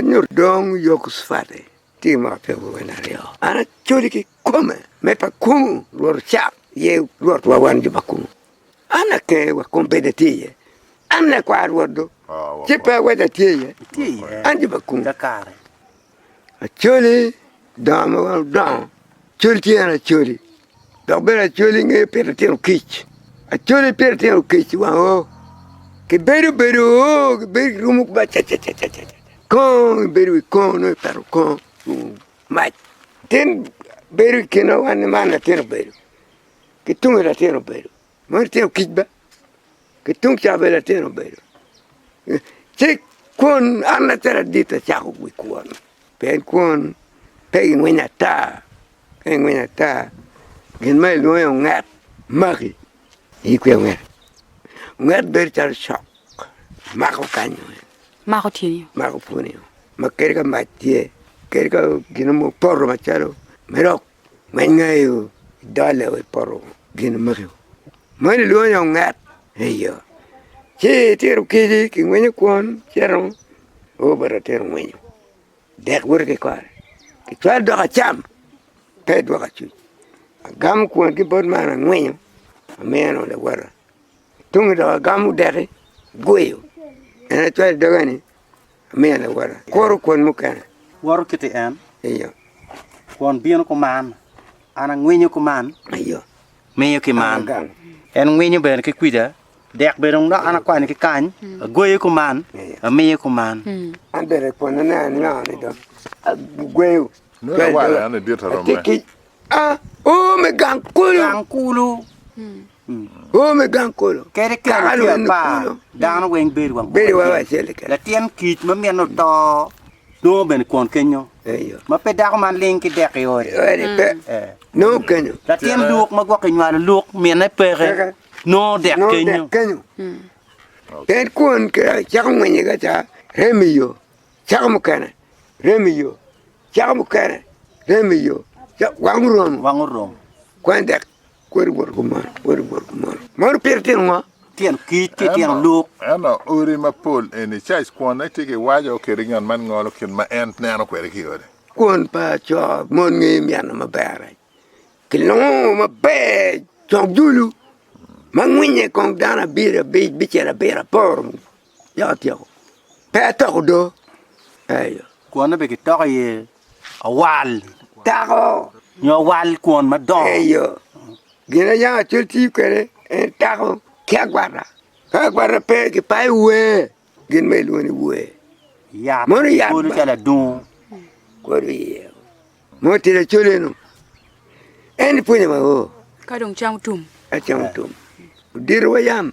Nyo dong Yekocucwati tye ma apiko gin aryo, an acoli kikome me pa kungu rwot ocak ye rwotwa wan jo pa kungu, an aker wa kong bed atye iye, an lakwar rwot dong ci pe awaco atye iye, an jo pa kungu. Acholi donga ma wan wudongo, col tye en acholi dok bene acoli ngeyo pito tino kic, acoli pito tino kic i wang oo kibedo bedo oo kibedo kirumo ki bacacacaca kongo ibedo wi kongo nongo ipeto kongo mac tin bedo i kine wa ni man latin obedo ki tunge latin obedo ma litino kic ba ki tung ca bene litino obedo ci kwon an lacen adit acako wi kwon pien kwon pe gingwinyo ata ka ingwinyo ata gin ma ilwongo ni onget maki in ikwiyo onget, onget bedo calo cok mako kanyu mako tyeni o mako pwonye o ma kadi ka mac tye kadi ka gin mo poto macalo me dok me ngeyo dole wa i poto gin magi moni lwongo ni onget eyo ci itito kici ki ngwinyo kwon cito obito tito ngwinyo dek bute ki kore ki cwalo dok acam pe idwoko acuc agamo kwon ki bot man angwinyo amiyo dong lawota tunge dong agamo deki agweyo en acwalo doge ni Kuro kwon mukene. Wot wukiti en. Eyo. Kwon bino kuman. An angwinyo kuman. Eyo. Miyo ki man. Agang. En ngwinyo bene ki kwica. Dek bene dok an akwanyo ki kany. Agweyo kuman. Eyo. Amiyo kuman. An bene kwon ane anywani dong agweyo. Nongo lawala-ni dit romme. Atikkic. A, oo, me gang kulu. Gang kulu. Wor me gang kolo. Kadi kelo Kaka tye lwenyo apar, kuno. dano weng bedo wang Bedo wang acel acel keken. Latin kic ma mine oto nongo bene kwon kenyo, Eyo. ma pe dako man ling ki dek i ode. Ode pe. Eh. Nongo kenyo. Latin luk ma gwokke nywalo luk mine peke, Peke. nongo dek Nongo kenyo. dek kenyo. En kwon kira cako ngwenye ka ca rem i yo. Cako mukene rem i yo. Cako mukene rem i yo. Ca- Wang oromo. Wang oromo. Kwan dek Kwed wot kumalo, kwed wot kumalo. Meno pire tyen ngo? Tyen kic ki tyen luk. Ento odi mapol eni, cac kwone tye ki waco kede ngat man ngolo kit ma en neno kwede ki ode. Kwon pa co mon nge myano maber-re kilongo maber cogdulu ma ngwinye kong dano abiro abic bicel abiro apor. Yako atyeko. Pe atoko do. Eyo. Kwonne be kitoko iye awal. Tako. Nyo awal kwon madongo. Eyo. Gin ayako acol tiyo kwede en tako ki agwata. Ka agwata pe kipayo wer gin ma ilwongo ni wer. Yat. Mono yat. Kolo calo adungo. Kolo iye. Mo tira col eno. En pwonyo ma o. Ka dong cam otum. Acam otum. Odiro wa yam.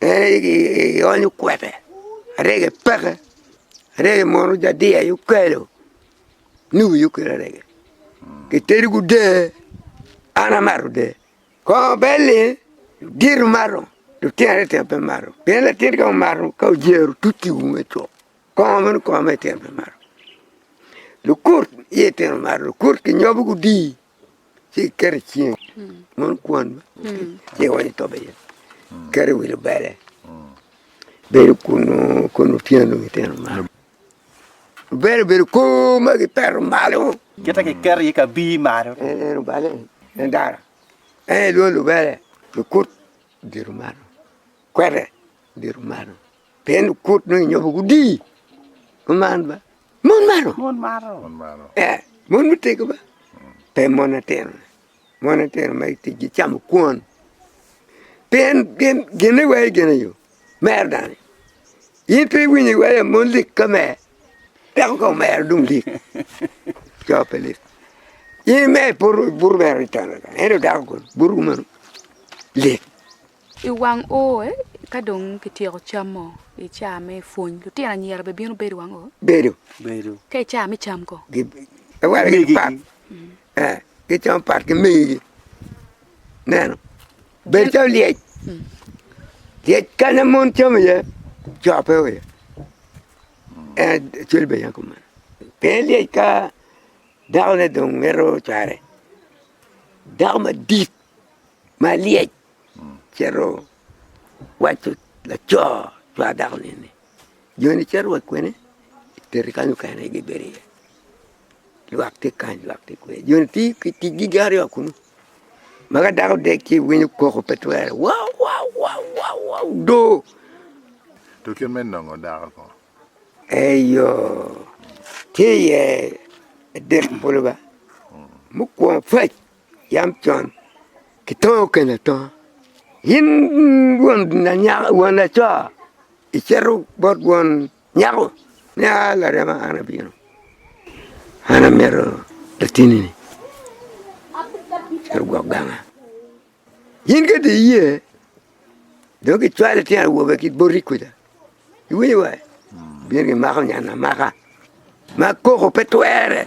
ionyo kwete arege peke arege mono ojadie aye okelo ni wi okelo arege kitedo ki dee an amato dee kongo bel ni dito mato lutino aryo tyen pe mato pien latin ka omato ka ojero tuti i ume cok kongo meno kongo me tyen pe mato lukut iye tyen mato lukut ki nyobo gudi ci iketo i cinge mono kwon ci iwonyo i tobe iye iketo i wi lubele bedo kunu kun otyeno dong itero malo lubele obedo kor ma gitero malo Kite kiketo iye kabir malo. en en obale en dara en lwongo lubele kikut diro malo kwete diro malo Pien kut nongo inyopo gudii ma man ba mon maro. Mon maro. Mon maro. Eh, mon mutego ba. Pe mon atino. Mon atino ma itic gicamo kwon. Pien gin gin iwaye gin iyo. Mer dani. In pe iwinyo iwaye mon lik ka mer. Dako ka omero dong lik. Coo pe lik. In mer puru buru mero itana. Ento dako kono buru mano lik. I wang o ka dong kityeko camo i ca me pwony lutino anyira be bino bedo i wang o? Bedo. Ka i ca me cam ko? Giwaligi pat gicamo pat ki megigi ineno bedo calo lyec, lyec kanya mon camo iye co pe o iye en cal bene aye kumeno pien lyec ka dakone dong mito cware dako madit malyec cito waco laco cwar dako ni eni joni cito wa kwene itero kany mukene gi bedo iye lwak tye kany lwak tye kwica joni tye ki tic gi gin aryo wa kunu ma ka dako odek ci iwinyo koko pe twere wawawawa odoo to kit me nongo dako ko eyo tye iye adek bulu ba mukwongo pac yam con kitongo kene atonga. In won lanyaka won laco icito bot won nyako ni aa larema an abino an amito latinni-ni cito gwok ganga, in ka dong iye dong kicwalo litino awobe ki boti kwija iwinyo wa? gibino gimako nyan amaka ma koko pe twere.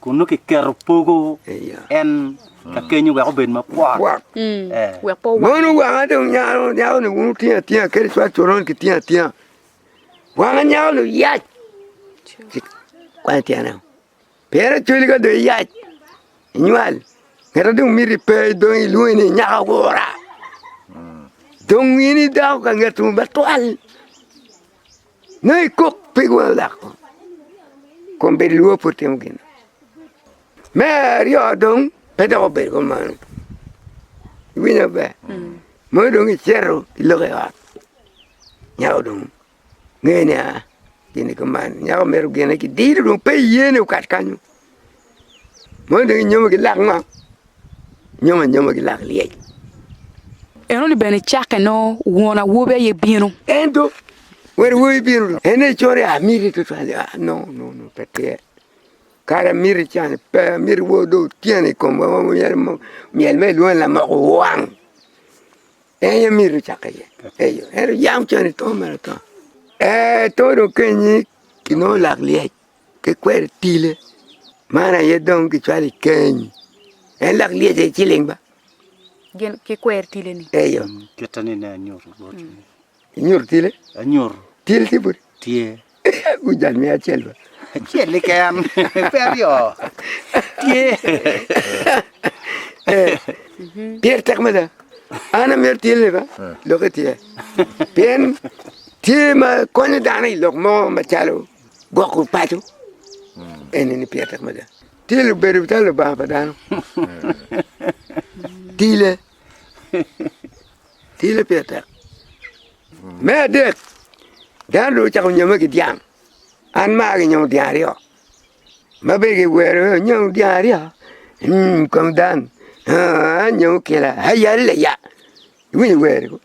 Kun nongo kiketo pogo en ka kenyo wek obed mapwot. Wek pe owang. Mono wanga dong nyako nyako ni wun wutingo atinga kadi cwal coron kitingo atinga. Wanga nyako ni oyac. Kwany tyene. Pien acwali ka dong iyac inywal ngete dong miti pe dong ilwongi ni nyako agura. Dong in idako ka nget tum batwal. Nongo ikok pig wang lak kong, kong bed lwor pe wutimo gin. Me aryo dong, pe dok obedo kumeno, iwinyo maber? Mono dong icito ilogo i ot, nyako dong nge nia gin-ni kuman, nyako mito gine ki diro dong pe iyene okat kanyo. Moni dong inyomo ki lak ngo? Inyomo anyomo ki lak lyec. Enoni bene cakke nongo won awobi aye bino. Ento won awobi bino dong en aye coro amiti tutwal ah no no no pe tyer kara amiti can pe amiti wor dong otyeno i komwa wa myero myel ma ilwongo ni lamoko wang en aye amiti ocakke iye eyo ento yam can itoo mere atoo ee too dong kenyi inongo lak lyec. ki kweri tile man aye dong ki cwalo i keny en lok lyece ki ciling ba gin ki kwer tile ni eyo kita ni ne anyur inyur tile anyur til tye budi tye gujan mi acel ba acel ni ken pe aryo tye pyer tek mada an amir til ni ba lok itye pien tye ma konyo dano i lok mo macalo Gwoko paco eni ni pire tek mada. Tye lubedo calo lubanga pa dano. Tile, tile pire tek. Me adek, dano dong ocako nyome ki dyang. An maa ginyomo dyang aryo, ma bene giwero ni onyom dyang aryo kom dang, aa anyomo kila, aya lella, iwinyo wer-ri kong.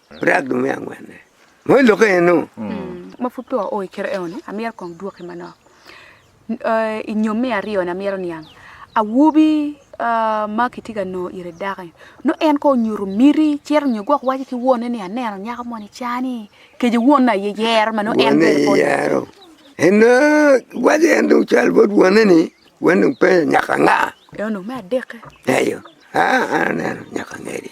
Brag me angwenne ma i lokke eno. Ma pud peya oo i kite eno ni, amyero kong dwoki manok. I nyom me aryo ni amyero niang, awobi ma kitye ka nongo ite dako-ni, nongo en kong onyuto miti cito nyo gwok waco ki wonne ni aneno nyako moni car-ni kece wonne aye yero ma nongo en bene pe onyuto. En dong waco en dong cal bot wonne ni wan dong pe nyaka anga. Eno dong me adekke. Eyo, aa an aneno nyaka angeri.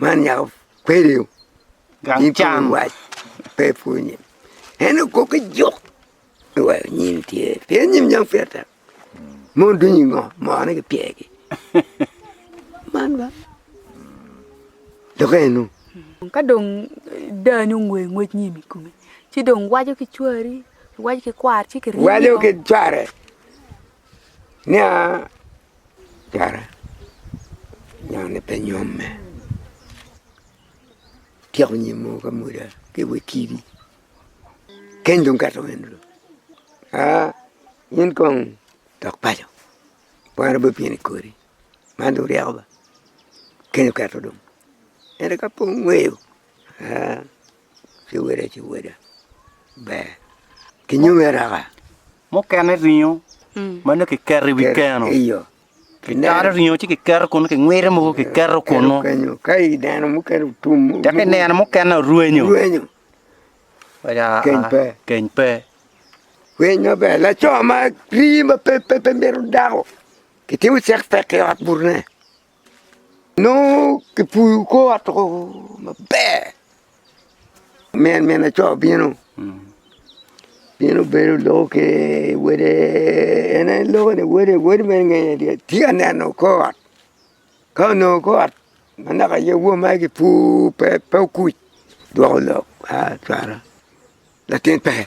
man nyako kwede o gang cam pe pwonye en okok ki juk ni wa nyin tye pien nyin nyang pire tek ma odwiny i ngo moo ne gipye gi man ba dok enu ka dong dani ongwe ngwec nyim i kome ci dong waco ki cwari iwaco ki kwari ci ki ryemo waco ki cware Nia kara nyoni pe nyomme tyeko nyim mogo ka mweda ki i wi kidi keny dong kato wendo dong aa in kong dok paco kwano bot in kodi man dong ryeko ba keny okato dong ento ka pud ingweyo aa ci wele ci wele ber ki nyomi araka. Mukene ringo ma nongo kiketo i wi keno, kitalo ringo ci kiketo kunnu, kingwiro mogo kiketo kunnu. Ka kineno mukene orwenyo, keny pe. Pwiny maber, laco ma rii ma pe myero dako, kitimo cek pek ki i ot butne. Nongo kipuyo kor ot woko maber, min min laco bino bino bedo loyo ki wele, en aye loyo ni wele, wele meno ingeye adada, tye ka neno kor ot, ka onongo kor ot ma naka aye won mere kipur pe okuc dwoko lok a cwalo latin pe.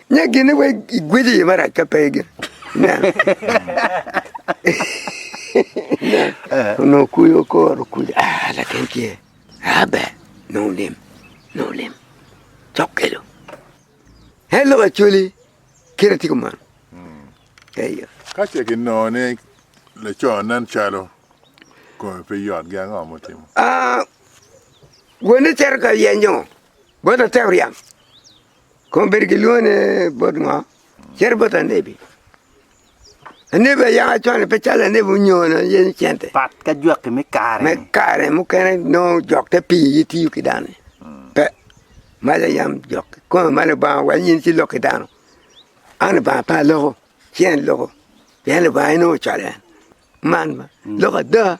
Nya gine wek igwel iye marac ka pe gin. Onongo kuyo koro kuyo. Ah, latin tye. Ah, ber. Nongo olim. Nongo olim. Cok kelo. En lok acoli. Kira tye kumano. Eyo. Ka ce kinongo ni laco nen calo kome pe yot gi ango mutimo? Ah, wene cero ka yenyo. Bot atek ryang. Kong bed gilwongo ni bot ngo cito bot anebi, anebi aye yaka cone pe calo anebi onyone yenyo cente pat ka jwaki me kare me kare mukene nongo jok te piyo ye tiyo ki dano ni pe malo yam jok kikome malo Lubanga wa nyen ci lok ki dano an Lubanga pe aloko ci en loko pien Lubanga en aye ocwalo en man lok ada.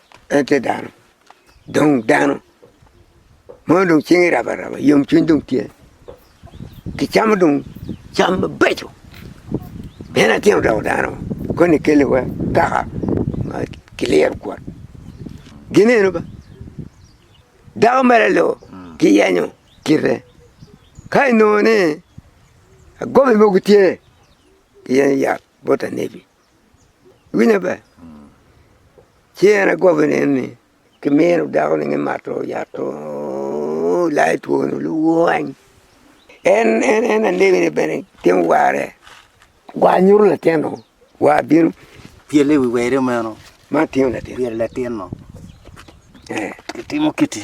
En tye dano, dong dano mo dong cinge rab araba yom cwiny dong tye, kicamo dong cam mabeco pien atyeno doko dano koni kele wa kaka ma kiliro kwot gin eno ba, dako mere lo kiyenyo kite ka inongo ni agobi mogo tye iyenyo yat bot anebi. Winyo maber, ci en agobi ne ni ki mino dako ni mato yat to layo two ni lwany, en en anegi ni bene timo warre, war nyuto latin o, war bino pyele i wi weri meno ma timo latin, pyelo latin o, ki timo kiti.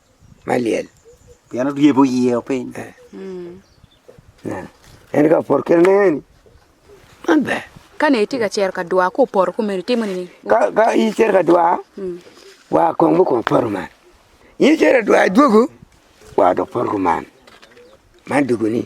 me lyel. Pien oryebo iye o piny. Eh. Mm. Nen. En ka opor kene neni. Man ber. Ka ne itye ka cero ka dwa, ku oporo kumeni, timo nini? Ka, ka icero ka dwa, mm. wa kong bu kong poro man. Icero dwa dwogo, wa dok poro kuman. Man dugu ni.